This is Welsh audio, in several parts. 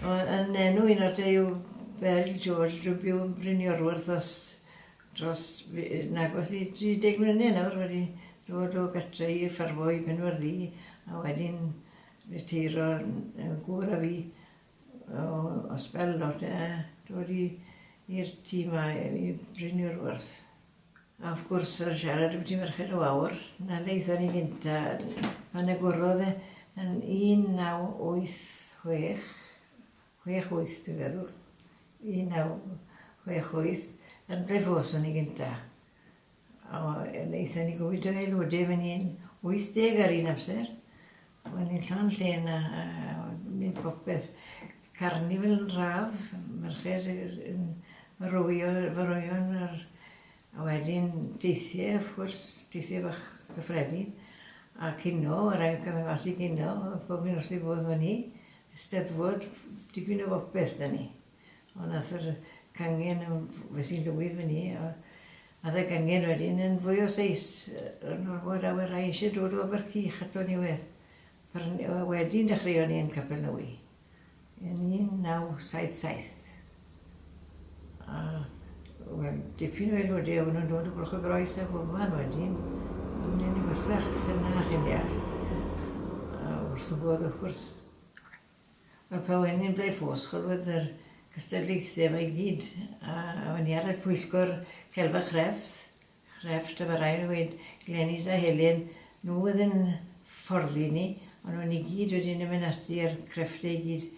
Yn enw un o'r Duw, fel i George, rwy'n byw yn Bryniorwyrth os dros nag os i 30 mlynedd nawr wedi dod o gytre i ffarmo i Benwerddi a wedyn reteiro yn gŵr a fi o, o sbel lot a dod i i'r tŷ 'ma i Bryniorwyrth. A wrth gwrs ar siarad ambyti Merched y Wawr, 'na le aethon ni gynta', pan agorodd e yn 1986, 68 dwi'n feddwl, 1968, yn Ble-fos o'n ni gynta'. O yy aethon ni gymaint o aelode myn' yn 80 ar un amser, Wel ni'n llawn lle yna a neud popeth. Carnifl raf, merched yn rowio efo roeon a'r a wedyn deithie wrth gwrs, deithie bach cyffredin a cino, ma' raid camu' mas i gino pob un nos dwi'n bod fynny. Steddfod, dipyn o bopeth 'da ni. Ond aeth yr cangen yn f- es i'n lwydd fyn 'ny a aeth y gangen wedyn yn fwy o seis yy yy nawr fo draw a rai isie dod o Abercych ato ni wedd pry- yy a wedyn dechreuon ni yn Capelnewy yn 1977 a wel dipyn o aelode o' nw'n dod o Bwlch-y-groes a bob man wedyn a mynd yn fusach fyn 'na chi'n deall a wrth y bodd wrth gwrs. Wel pan o'n i'n Blaid Ffos gorwedd yr gystadlaethu yma i gyd a o'n i ar y pwyllgor celf a chrefft chrefft a ma' rai' fi weud Glenys a Helen nhw oedd yn fforddi ni ond o'n i gyd wedyn yn mynd ati a'r creffte i gyd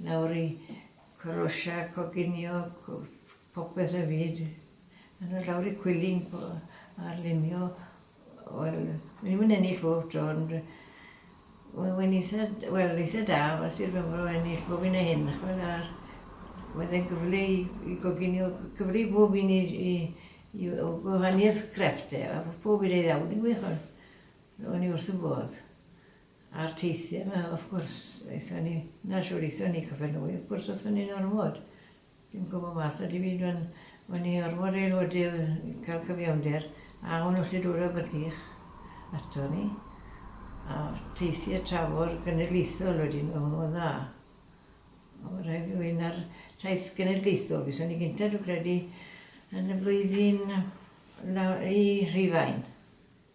lawr i Croatia coginio co- popeth y fyd a lawr i Cwilyn po- ar lunio Wel, o'n i'm yn ennill bob tro ond yy we- we'n itha d- wel itha da fel Sir Benfro o ennill bob un o hyn dach ch'mod a wedd e'n gyfle i i goginio c- cyfle i bob un i i i w- w- wahanieth crefft e a bo' pob un ei ddawn fi'n gwych on'. O'n i wrth 'yn bodd. A'r teithie 'ma wrth gwrs aethon ni 'na shwd aethon ni Capel Newydd wrth gwrs athon ni'n ormod. Dim gwbo mas ydw i rwan. Wen i orfod aelodi i ca'l cyfiawnder a o'n nhw allu dod â bygych aton ni a teithio tramor genedlaethol wedyn o'n nhw'n dda. Ond ma' rhaid fi weud na'r taith genedlaethol fi son i gynta dwi credu yn y flwyddyn law- i Rhufain.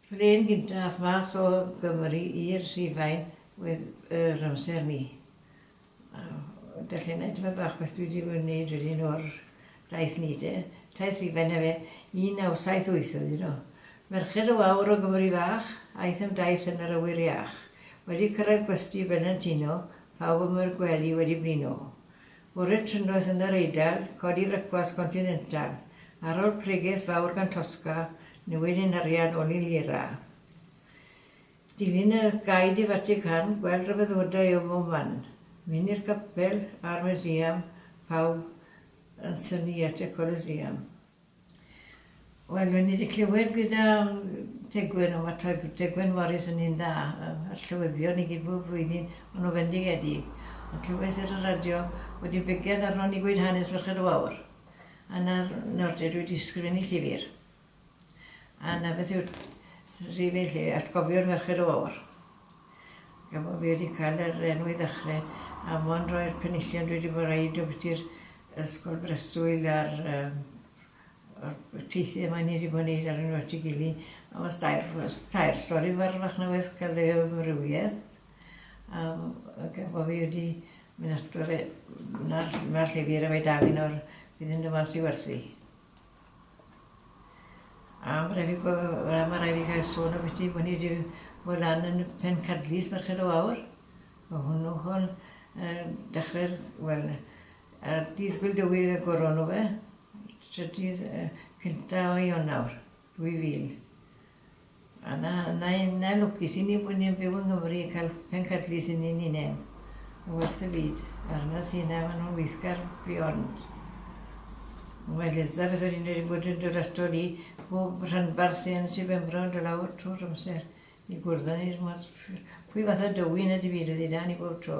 Plên gynta ath mas o Gymru i'r Rhufain wedd yr amser ni. Dach chi'n neud tipyn bach beth dwi 'di neud wedyn o'r daith ni te. Taith Rhufain efe. Un naw saith wyth oedd 'i do. Merched o wawr o Gymru fach, aeth am daith yn yr awyr iach. Wedi cyrraedd gwesty Felentino, pawb am yr gwely wedi blino. Bore trynnoeth yn yr Eidal, codi frecwast continental. Ar ol pregeth fawr gan Tosca, newid ein harian ol i lira. Dilyn y gaid i Fatican, gweld rhyfeddodau o bob man, mynd i'r capel a'r Museum, pawb yn synnu at y Colosseum. Wel, rwy'n i wedi clywed gyda Tegwen, ond mae Tegwen Morris yn un dda, a llywyddion i gyd bob flwyddyn, ond o fendigedig. Ond clywais ar y radio bod i'n begiad arno ni gweud hanes Merched y Wawr. A nawr, nawr te, dwi wedi sgrifennu llyfr. A 'na beth yw'r rhif un 'lly, atgofiwr Merched y Wawr. Gan bo' fi wedi cael yr enw i ddechrau, a mond roi'r penillion dwi wedi bod yn roid ambiti'r ysgol breswyl a'r um, o'r teithio yma ni wedi bod yn neud ar yn wedi gili. A os tair, tair stori fawr fach na beth cael ei amrywiaeth. A gan bo' fi wedi mynd ato fe, na'r, na'r llefydd y mae da fi nawr, bydd yn dyma sy'n werthu. A ma' rai' fi gwe- yy ma' rai' fi gael sôn ambyti bo' ni 'di bod lan yn Pencadlys Merched y Wawr, o hwnnw hwn yym dechre'r wel yy dydd Gŵyl Dywydd y goron nhw fe, trydydd yy cynta o Ionawr. 2000. A na, na i, na lwcus i ni bod ni'n byw yng Nghymru i cael pencadlys yn un i neb. Yn werth y byd. Mae'r na sy'n na, maen nhw'n weithgar beyond. Mae Leza, fes o'n i'n wedi bod yn dod ato ni, bob rhanbarth sy'n sy'n bembro yn dod lawr trwy'r amser i gwrdd â ni. Pwy fath o dywyn y difyr ydy da ni bob tro.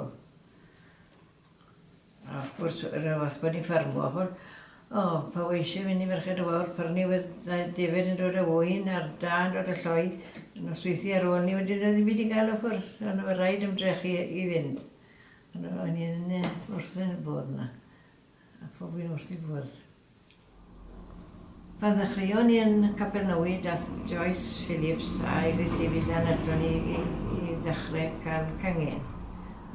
A wrth gwrs, yr un fath bod ni'n ffermio, ch'mod. O, pan weles i fyn' i Ferched y Wawr, prynu wedd yy defaid yn dod â ŵyn a'r dân dod â lloi, nosweithi ar ôl 'ny wedyn doedd dim byd i ga'l wrth gwrs, on' o' raid ymdrechu i i fynd. O'n i yn yy wrthyn y bodd 'na, a phob un wrth 'i bodd. Pan ddechreuon ni yn Capernawy, daeth Joyce Phillips a Eglwys Davies Anne aton ni i i ddechrau cael cangen.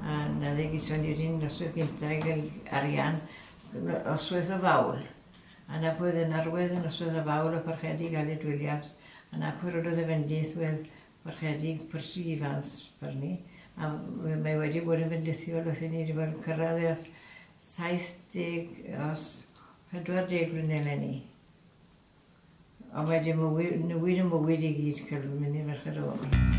A 'na le geson ni yr un noswaith gynta' i gael arian, noswaith o Fawl. A 'na pwy o'dd yn arwydd y noswaith o Fawl o Parchedig Aled Williams, a 'na pwy rododd y fendith wedd Ychydig persiifans per ni, a mae wedi bod yn fendithiol wrthyn ni, wedi bod yn cyrraedd ers 70, ers 40 mlynedd eleni. Ond mae wedi mywyd, newid y mywyd i gyd, cael yn mynd i ferched o fobl.